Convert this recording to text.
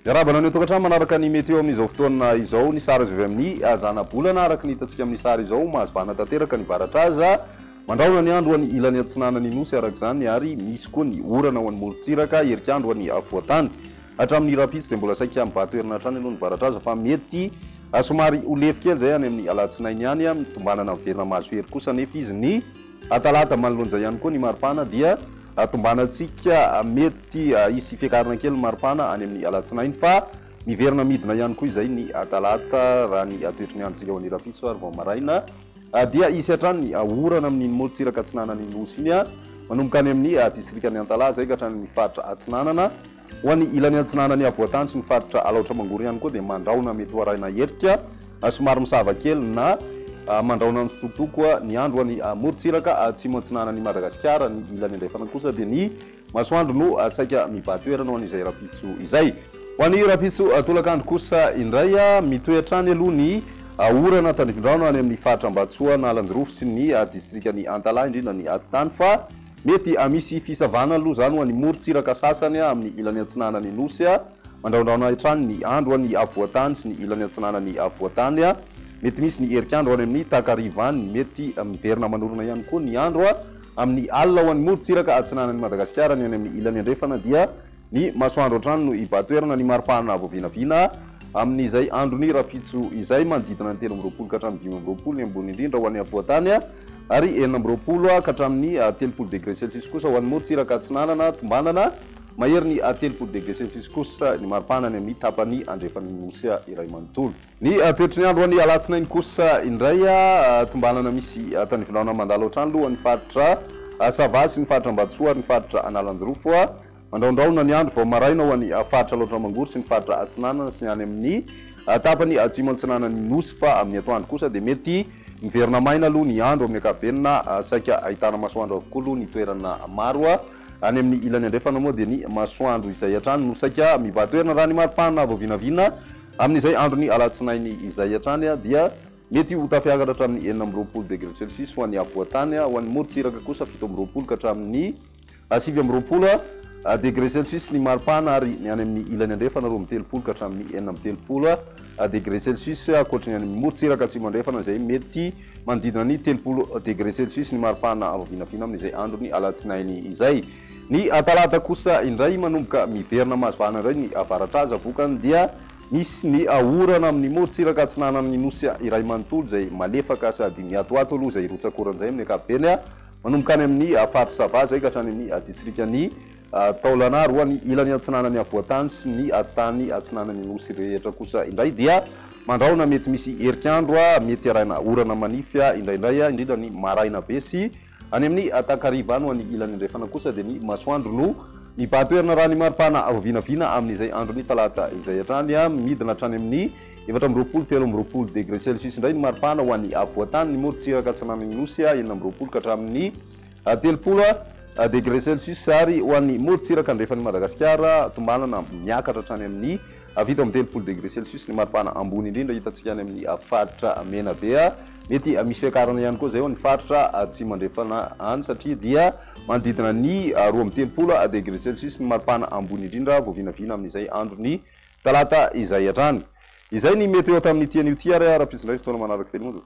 Miarahaba anao ny ao tokantrano manaraka ny meteo amin'izao fotoana izao. Ny sary azo avy amin'ny zana-bolana araka ny hitantsika amin'ny sary izao. Mahazvana tanteraka ny varatra aza. Mandrahona ny andro ho an'ny ilany atsinanan'ny Nosy araka izany ary misy koa ny orana ho an'ny morontsiraka, herik'andro ho an'ny afovoan-tany. Hatramin'ny rahampitso dia mbola saika mibaha toerana hatrany aloha ny varatra aza fa mety somary ho lefy kely izay any amin'ny alatsinainy any, mitombanana miverina mahasohery kosa anefa izy ny atalata manoloan'izay ihany koa ny maripana dia tombanantsika mety hisy fiakarana kely ny maripana any amin'ny alatsinainy fa miverina midina ihany koa izay ny atalata raha ny toetry ny androntsika ho an'ny rahampitso ary vao maraina dia hisy hatrany ny orana amin'iny morontsiraka atsinanan'ny nosy iny manomboka any amin'ny distrikan'ny antalaha izay ka hatrany amin'ny faritra atsinanana Ho an'ny ilany atsinanan'ny havoantany sy ny faritra Alaotra Mangoro ihany koa dia mandrahona mety ho arahina herika somary misava kely na mandrahona mitsitokotoko koa ny andro. Ho an'ny morontsiraka atsimo atsinanan'i Madagasikara, ny ilany andrefana kosa dia ny masoandro no saika mibaha toerana ho an'izay rahampitso izay. Ho an'ny rahampitso tolakandro kosa indray, mitohy hatrany aloha ny orana tandrifindraona any amin'ny faritra Ambatsoa Analanjirofo sy ny distrikan'i Antalaha, indrindra ny atitany fa, Mety hamisy fisavana aloha izany ho an'ny morontsiraka sasany amin'ny ilany atsinanan'ny Nosy mandrahondrahona hatrany ny andro any afovoan-tany sy ny ilany atsinanan'ny afovoan-tany. Mety misy ny herik'andro any amin'ny takariva any. Mety miverina manorina ihany koa ny andro amin'ny alina ho an'ny morontsiraka atsinanan'i Madagasikara ny any amin'ny ilany andrefana dia Ny masoandro an-trano no hibahan-toerana ny mari-pahana vao vinavina amin'izay andron'ny rahampitso izay, manodidina ny telo amby roapolo ka hatramin'ny dimy amby roapolo ny ambony indrindra ho an'ny afovoan-tany ary enina amby roapolo ka hatramin'ny telopolo degre celsius kosa ho an'ny morontsiraka atsinanana tombanana maherin'ny telopolo degre celsius kosa ny mari-pahana any amin'ny tapany andrefan'ny Nosy iray manontolo. Ny toetry ny andro any alatsinainy kosa indray, tombanana misy tany Ivolana mandalo hatrany loha ny faritra Sava sy ny faritra Ambatosoa ary ny faritra Analanjirofo, mandraondraona ny andro vao maraina ho any faritra Alaotra Mangoro sy ny faritra Atsinanana sy ny any amin' ny tapany atsimo-atsinanan' ny Nosy fa amin' ny atoandro kosa dia mety miverina maina aloha ny andro amin' ny ankapobeny na saika ahitana masoandro avokoa aloha ny toerana maro any amin' ny ilany andrefana moa dia ny masoandro izay hatrany no saika mibahan-toerana raha ny mari-pana vao vinavina Amin'izay andron'ny alatsinainy izay hatrany dia mety ho tafiakatra hatramin'ny enina amby roapolo degre celsius ho an'ny afovoan-tany, ho an'ny morontsiraka kosa fito amby roapolo ka hatramin'ny sivy amby roapolo degre celsius ny maripana ary ny any amin'ny ilany andrefana roa amby telopolo ka hatramin'ny enina amby telopolo degre celsius ankoatry ny any amin'ny morontsiraka atsimo-andrefana izay mety manodidina ny telopolo degre celsius ny maripana vinavina amin'izay andron'ny alatsinainy izay. Ny talata kosa indray manomboka miverina mahazo vahana indray ny avaratra aza vokany dia misy ny orana amin'ny morontsiraka atsinanan'ny nosy iray manontolo izay malefaka sady miatoato aloha izay rotsakorana izay amin'ny ankapobeny manomboka any amin'ny faritr'i Sava izay ka hatrany amin'ny distrikan'i Taolana ary ho any ilany atsinanan'ny afovoan-tany sy ny tany atsinanan'ny nosy rehetra kosa indray dia mandrahona mety misy herik'andro mety haraina orana manify indraindray indrindra ny maraina be sy Any amin'ny takariva any ho any ilany andrefana kosa dia ny masoandro no mibahan-toerana raha ny maripana vinavina amin'izay andron'ny talata izay hatrany. Midina hatrany amin'ny efatra amby roapolo, telo amby roapolo degre celsius indray ny maripana ho an'ny afovoan-tany, ny morontsiraka atsinanan'ny Nosy, enina amby roapolo ka hatramin'ny telopolo degre celsius, ary ho an'ny morontsiraka andrefan'i Madagasikara tombanana miakatra hatrany amin'ny fito amby telopolo degre celsius ny maripana ambony indrindra hitantsika any amin'ny faritra Menabe. Mety misy fiakarana ihany koa izay ho an'ny faritra atsimo andrefana any satria dia manodidina ny roa amby telopolo degré celsius ny maripana ambony indrindra vao vinavina amin'izay andron'ny talata izay hatrany. Izay ny météo tamin'ity anio ity ary rahampitso indray ny fotoana manaraka kely monja.